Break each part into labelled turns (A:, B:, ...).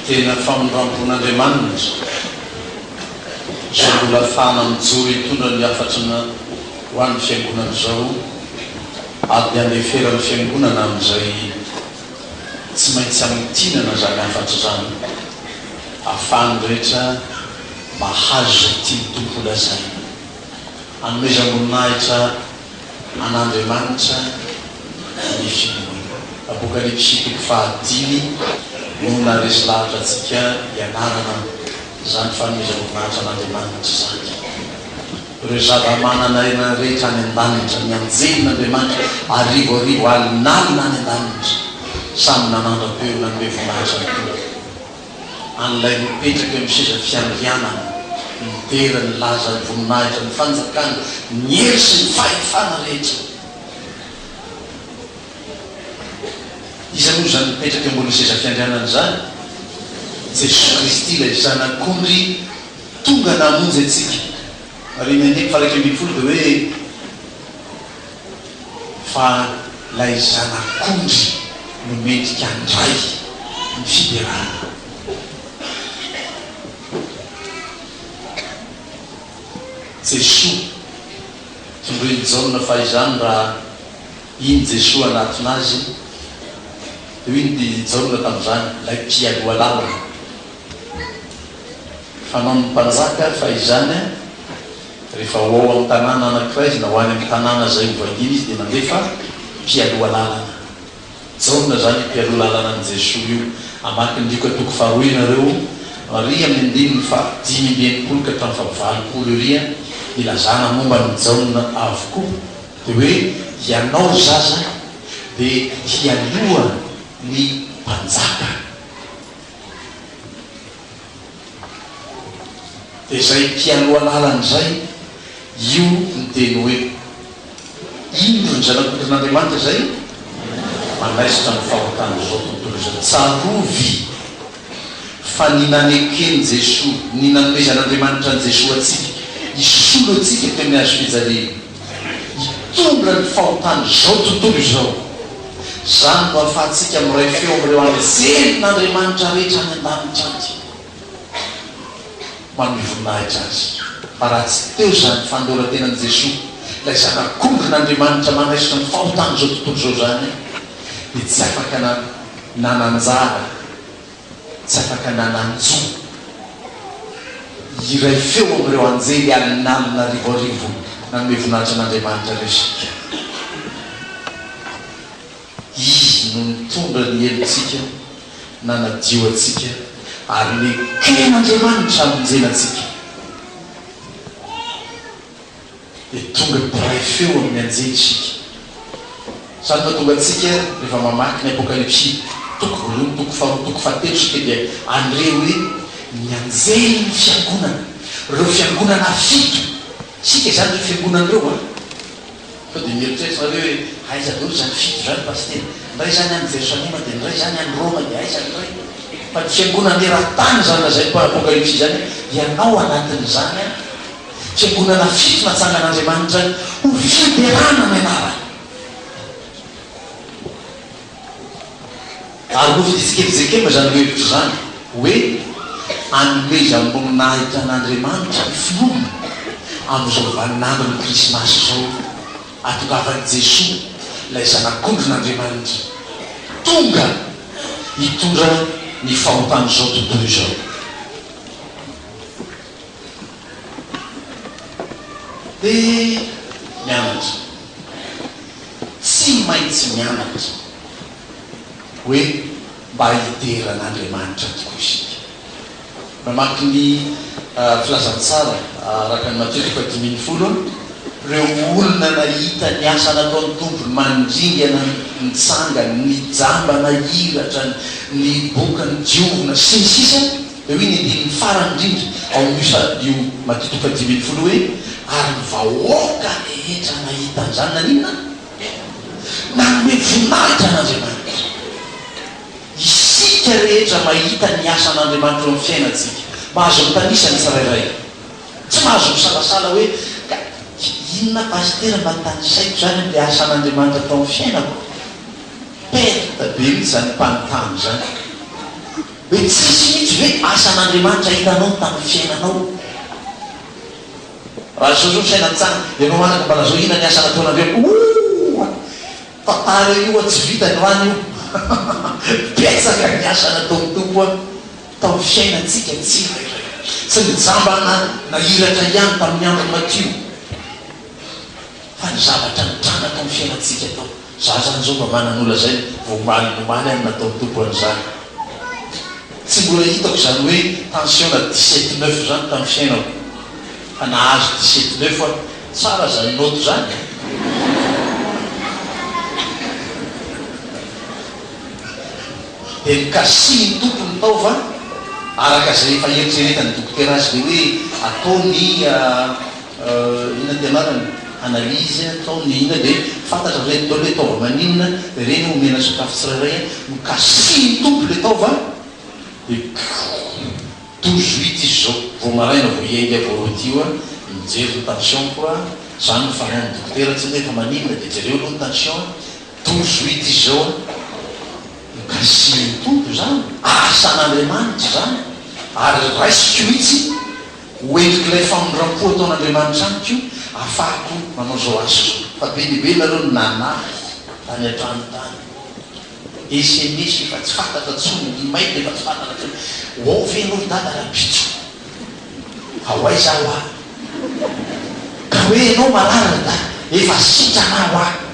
A: Tena famindram-pon'Andriamanitra izao mbola afahana mijoro hitondra ny hafatrana ho an'ny Fiangonana izao, ady handeferan'ny Fiangonana amin'izay tsy maintsy hamintinana izany hafatra izany, ahafahan'ny rehetra Mahazo izay tian'ny Tompo holazaina. Anomezam-boninahitra an'Andriamanitra ny finoana. Apokalypsy toko fahadimy no naharesy lahatra antsika hianarana izany fanomezam-boninahitra an'Andriamanitra izany. Ireo zava-manan'aina rehetra any an-danitra, ny anjelin'Andriamanitra arivo arivo alin'alina any an-danitra, samy nanandra-peo nanome voninahitra ny Tompo. an'ilay mipetraka eo amin'ny seza fiandrianana, midera ny laza ny voninahitra ny fanjakany, ny hery sy ny fahefana rehetra. Iza moa izany mipetraka eo ambonin'ny seza fiandrianana izany? Jesoa Kristy ilay Zanak'ondry tonga namonjy antsika. Ary ny andininy faha iraika ambin'ny folo dia hoe. fa lay zanak'ondry no mendrika handray ny fiderana. Jesoa, tondroin'i Jaona fa izany raha iny Jesoa hanatona azy, dia hoy ny Jaona tamin'izany, lay mpialoha lalana, fanaon'ny mpanjaka fa izany an! Rehefa ho ao amin'ny tanàna anankiray na ho any amin'ny tanàna izay hovahiniana izy dia mandefa mpialoha lalana. Jaona izany io mpialoha lalànan'i Jesoa io. Hamaky ny Lioka toko faharoa ianareo, ary amin'ny andininy fahadimy amby enimpolo ka hatramin'ny fahavalopolo eria, ilazana momba an'i Jaona avokoa. Dia hoe, Ianao ry zaza dia hialoha ny mpanjaka. Dia izay ity aloha lalana izay, io ny teny hoe, Indro ny Zanak'ondrin'Andriamanitra izay manaisotra ny fahotan'izao tontolo izao. Tsarovy fa ny naneken'i Jesoa, ny nanomezan'Andriamanitra an'i Jesoa antsika hisolo antsika teo amin'ny hazo fijaliana, hitondra ny fahotan'izao tontolo izao. Izany no ahafahantsika miray feo amin'ireo anjelin'Andriamanitra rehetra any an-danitra any, manome voninahitra Azy. Fa raha tsy teo izany fanoloran-tenan'i Jesoa, ilay Zanak'ondrin'Andriamanitra manaisotra ny fahotan'izao tontolo izao izany, dia tsy afaka nananjara. tsy afaka nanano intsony. Hiray feo amin'ireo anjely alin'alina arivoarivo nanome voninahitra an'Andriamanitra ireo isika. Izy no nitondra ny helotsika, nanadio antsika, ary neken'Andriamanitra hamonjena antsika. dia tonga mpiray feo amin'ny anjely isika. Izany mahatonga antsika rehefa mamaky ny Apokalypsy, toko voalohany, toko faharoa, toko fahatelo isika dia handre hoe ny anjelin'ny fiangonana, ireo fiangonana fito, isika izany ireo fiangonana ireo an! Sao dia mieritreritra nareo hoe aiza daholo izany fito izany Pasitera? Indray izany any Jerosalema dia indray izany any Roma dia aiza indray? Fa ny fiangonana eran-tany izany lazain'ny Apokalypsy izany dia anao anatin'izany an! Fiangonana fito natsangan'Andriamanitra ny ho fiderana ny anarany. Ary nofidintsika eritsekema izany lohahevitra izany hoe anomezam-boninahitra an'Andriamanitra ny finoana amin'izao vaninandron'ny Krismasy izao, ahatongavan'i Jesoa, ilay Zanak'ondrin'Andriamanitra, tonga hitondra ny fahotan'izao tontolo izao. Dia mianatra. Tsy maintsy mianatra hoe mba hidera an'Andriamanitra tokoa isika. Namaky ny Filazantsara araka an'i Matio toko fahadimy ambin'ny folo aho, ireo olona nahita ny asa nataon'ny Tompo, ny mandringana nitsangany, ny jamba nahiratra, ny boka nidiovina, sy ny sisa. Dia hoy ny andininy farany indrindra ao amin'io salmio madidoka dimy ambin'ny folo hoe, Ary ny vahoaka rehetra nahita an'izany naninona? Nanome voninahitra an'Andriamanitra. Isika rehetra mahita ny asan'Andriamanitra eo amin'ny fiainantsika. Mahazo mitanisa ny tsirairay. Tsy mahazo misalasala hoe, Ka inona Pasitera mba tanisaiko izany amin'ilay asan'Andriamanitra tao amin'ny fiainako? Perte be mihitsy izany mpanontany izany. Hoe tsisy mihitsy ve asan'Andriamanitra hitanao tamin'ny fiainanao? Raha zao zao ny fiainan'i Tsang, ianao manako mba lazao inona ny asa nataonareo? Ooh! Tantara io an, tsy vita ny rano io. Betsaka ny asa nataon'ny Tompo an, tamin'ny fiainantsika tsirairay. Tsy ny jamba na nahiratra ihany tamin'ny andro matio, fa ny zavatra nitranga tamin'ny fiainantsika tao. Za zany zao mba manan'ola zay vao omaly nomaly any nataon'i Tompo an'izany. Tsy mbola hitako izany hoe tension na dix sept neuf zany tamin'ny fiainako. Fa nahazo dix sept neuf aho. Tsara zany note zany e. Dia nikasihin'i Tompo ny taova araka izay efa eritreretan'ny dokotera azy dia hoe ataony Inona ny anarany? Analyse, atao ny inona dia fantatra avy eo daholo hoe taova maninona ireny omena sokafy tsirairay a! Nokasihin'ny Tompo ilay taova dia douze huit izy izao vao maraina vao hiainga vao rôti io a! Mijery ny tension-ko a! Izany no fanaon'ny dokotera tsy hoe fa maninona dia jereo aloha ny tension a! Douze huit izy izao a! Nokasihin'ny Tompo izany, asan'Andriamanitra izany ary raisiko mihitsy. Ho endrik'ilay famindram-po ataon'Andriamanitra amiko io ahafahako manao izao asa izao. Fa be dia be nareo no nanahy tany an-trano tany. Sms efa tsy fantatra intsony, ny mail efa tsy fantatra intsony. Ho ao ve ianao ry Dada rahampitso? Fa ho aiza aho aho? Ka hoe ianao marary ry Dada? Efa sitrana aho aho.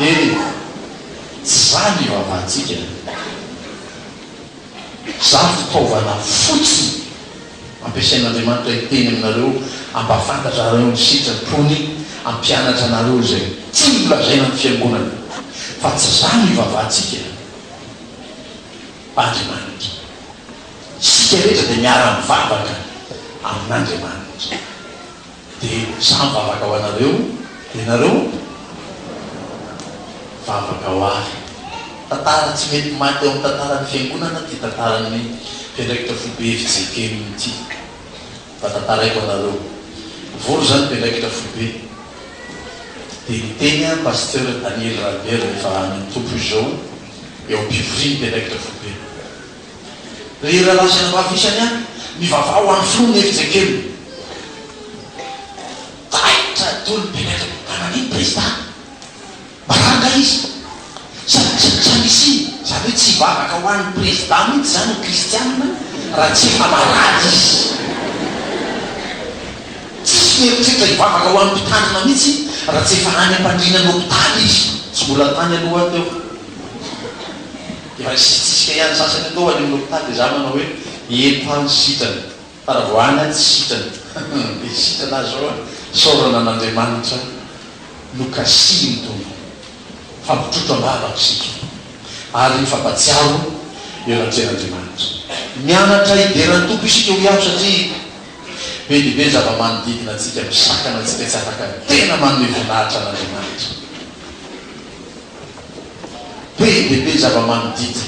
A: Eny, tsy izany io havantsika. Izaho fitaovana fotsiny ampiasain'Andriamanitra hiteny aminareo hampafantatrareo ny sitrapony, hampianatra anareo izay tiany holazaina ny Fiangonana, fa tsy izany io vavantsika. Andriamanitra. Isika rehetra dia miara-mivavaka amin'Andriamanitra. Dia samy vavaka ho anareo, dia nareo vavaka ho ahy. Tantara tsy mety maty ao amin'ny tantaran'ny Fiangonana ity tantaran'ny mpiandraikitra foibe FJKM ity. Mba tantaraiko anareo. Nivory izany mpiandraikitra foibe, dia niteny an Pasteur Daniel Ralbert rehefa any amin'ny Tompo izy izao eo am-pivorian'ny mpiandraikitra foibe. Ry rahalahy sy ranabavy isany an, mivavaha ho an'ny Filoha ny efijengelona. Taitra daholo ny mpianatra hoe, fa nanino Prezidà? Mba rariny kay izy? Sa sa nisy, izany hoe tsy hivavaka ho an'ny Prezidà mihitsy izany ny Kristianina raha tsy efa marary izy? Tsisy fieritreritra hivavaka ho an'ny mpitandrina mihitsy raha tsy efa any am-pandriana ny hopitaly izy? Tsy mbola tany aloha teo. Efa nisitrisitrika ihany ny sasany tao any amin'ny hopitaly dia za manao hoe eto aho ny sitrana fa raha vao any aho tsy sitrana hum dia sitrana aho zao an! Isaorana an'Andriamanitra nokasihin'ny Tompo fa mitrotro am-bavaka isika ary mifampatsiaro eo anatrehan'Andriamanitra. Mianatra hidera ny Tompo isika hoy aho satria be dia be ny zava-manodidina antsika misakana antsika tsy afaka tena manome voninahitra an'Andriamanitra. Be dia be ny zava-manodidina.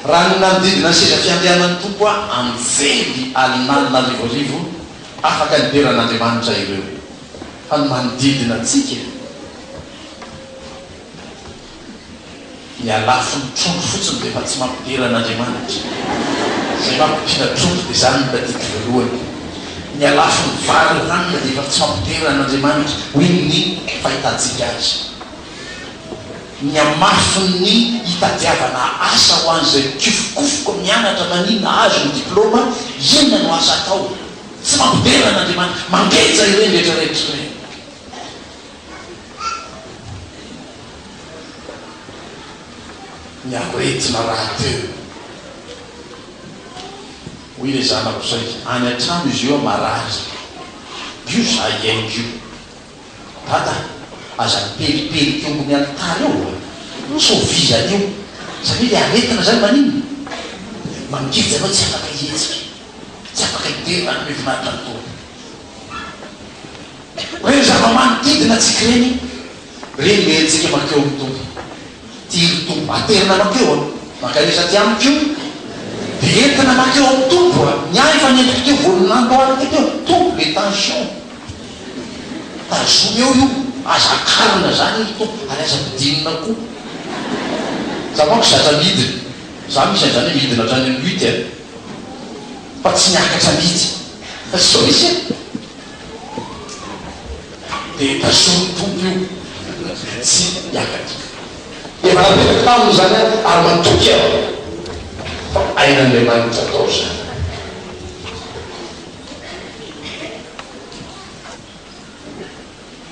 A: Raha ny nanodidina ny seza fiandrianan'ny Tompo aho anjely alinalina arivoarivo afaka nidera an'Andriamanitra ireo. Fa ny manodidina antsika, ny alafon'ny trondro fotsiny dia efa tsy mampidera an'Andriamanitra. Izay mampidina trondro dia izany no tadidiko voalohany. ny halafon'ny vary ny hanina dia efa tsy fampiterana an'Andriamanitra hoy ny fahitantsika azy. Ny hamafin'ny hitadiavana asa ho an'izay mikofokofoka mianatra maninona hahazo ny diplaoma, inona no asa atao? Tsy fampiterana an'Andriamanitra. Mangeja ireny rehetrarehetra ireny. Ny aretina rahateo. Hoy ilay zanako saika any an-trano izy eo marary. Io za hihaino io. Dada a, aza mipelipelika eo ambony alitara eo a! Tsy ho vizana io. Zany hoe le aretina zany maninona? Mangidy ianao tsy afaka hihetsika, tsy afaka hidera raha hanome voninahitra ny Tompo. Reny zava-manodidina antsika ireny. Reny ve antsika mankeo amin'ny Tompo? Tia ny Tompo. Aterina mankeo an! Mankanesa aty amiko io. Dia entina mankeo amin'ny Tompo an! Ny ahy efa nentiko teo voalohany namboariko teo. Tompo le tension. Tazomy eo io. Aza akarina zany io Tompo ary aza ampidirina koa. Za manko zatra midina. Za misy an'izany hoe midina hatrany amin'ny lutte an! Fa tsy miakatra mihitsy. Sao misy e? Dia tazomy ny Tompo io dia tsy hiakatra. Efa napetraka taminy izany aho ary matoky aho fa ain'Andriamanitra atao izany.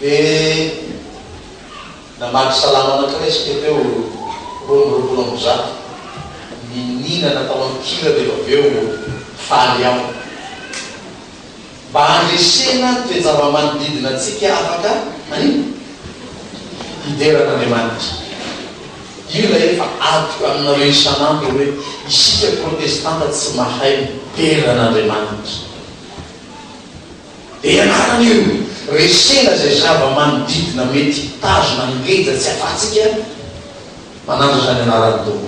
A: Dia namaky Salamo anankiray isika teo, roa amby roapolo amby zato, niniana natao an-kira dia avy eo faly aho. Mba handresena ny toe-java-manodidina antsika afaka manimba? Hidera an'Andriamanitra. Io ilay efa adiko aminareo isan'andro hoe isika protestanta tsy mahay midera an'Andriamanitra. Dia ianarana io, resena izay zava-manodidina mety hitazona ny geja tsy afahantsika manandratra ny anaran'ny Tompo.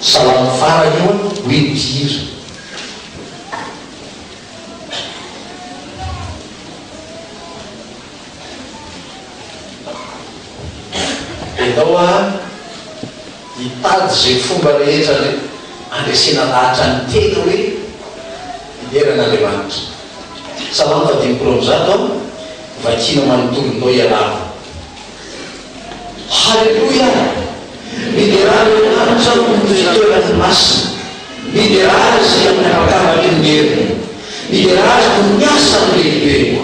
A: Salamo fara io an, hoe mpihira. Enao a hitady ze fomba rehetra le andresena lahatra ny tena hoe midera an Andriamanitra. Salamo fahadimipolo amby zato an, vakiana manontolo ndao ialavo. Haleloia! Miderà ny lanitra noho ny fitoerany masina, miderà Azy amin'ny habakabakiny ny heriny, miderà Azy noho ny asany lehibe,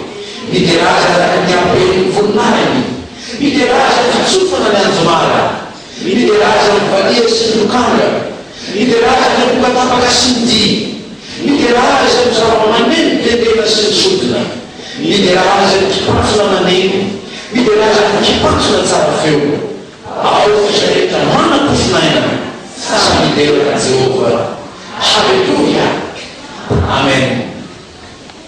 A: miderà Azy araka ny haben'ny voninahiny, miderà Azy amin'ny fitsofana ny anjomara, Midera azy amin'ny valiha sy ny lokanga, midera azy amin'ny amboka tapaka sy ny dihy, midera azy amin'ny zava-maneno tendrena sy ny sodina, midera azy amin'ny kipantsona maneno, midera azy amin'ny kipantsona tsara feo. Ao f'isa rehetra manam-pofon'aina, samy midera an'i Jehovah. Haleloia! Amen.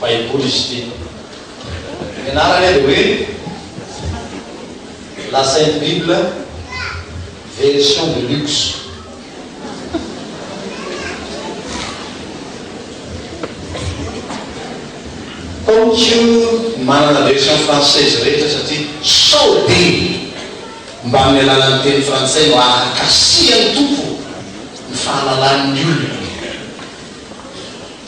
A: Baiboly izy ity. Ny anarany dia hoe La Sainte Bible, Version de luxe. Paoky manana version française rehetra satria sao dia mba amin'ny alalan'ny teny frantsay no ahankasihan'ny Tompo ny fahalalan'ny olona.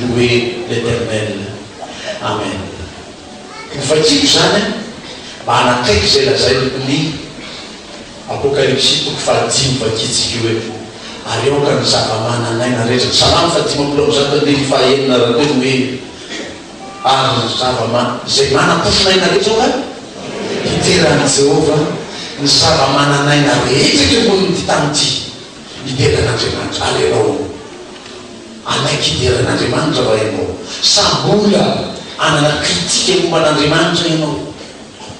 A: Louer l'Eternel. Amen. Hovakiko izany an, mba hanakaiky izay lazain'i Louis. Apokalypsy toko fahadimy vakitsika io eto. Ary aoka ny zava-manan'aina rehetra. Salamo fahadimampolo amby zato andininy fahaenina raha teo no hoe, Ary ny zava-ma, izay manam-pofon'aina rehetra aoka hitera an'i Jehovah, ny zava-manan'aina rehetra eto ambonin'ity tany ity. Midera an'Andriamanitra. Alléloia. Alaiky hidera an'Andriamanitra va ianao? Sa mbola hanana critique momba an'Andriamanitra ianao?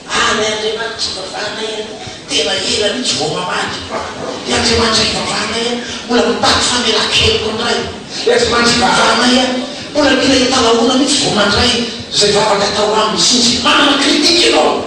A: Ah ny Andriamanitra ivavahanay an! Tena ela mihitsy vao mamaly. Ny Andriamanitra ivavahanay an! Mbola mitaky famelan-keloka indray. Ny Andriamanitra ivavahanay an! Mbola mila hitalahoana mihitsy vao mandray izay vavaka atao aminy. Sinjy manana critique ianao.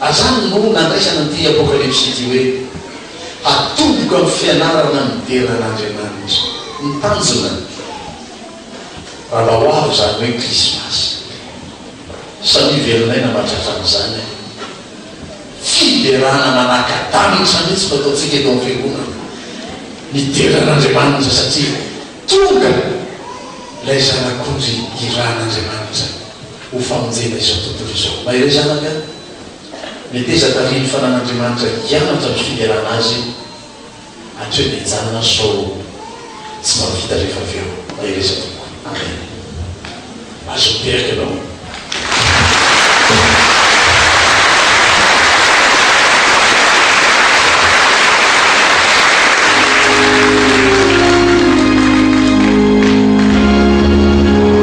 A: Azany no nandraisana an'ity Apokalypsy ity hoe, Hatomboko amin'ny fianarana midera an'Andriamanitra. Ny tanjona, raha ho avy izany hoe Krismasy. Samia velonay namatratra an'izany. Fiderana manaka-danitra mihitsy no ataontsika eto amin'ny Fiangonana. Midera an'Andriamanitra satria tonga ilay Zanak'ondry irahan'Andriamanitra. ho famonjena izao tontolo izao. Maire zanaka an! Meteza tarihin'ny fanan'Andriamanitra hianatra ny fiderana azy hatreo ny hijanona sao tsy mahavita rehefa avy eo. Mahereza tompoko. Amen. Azo miteraka ianao.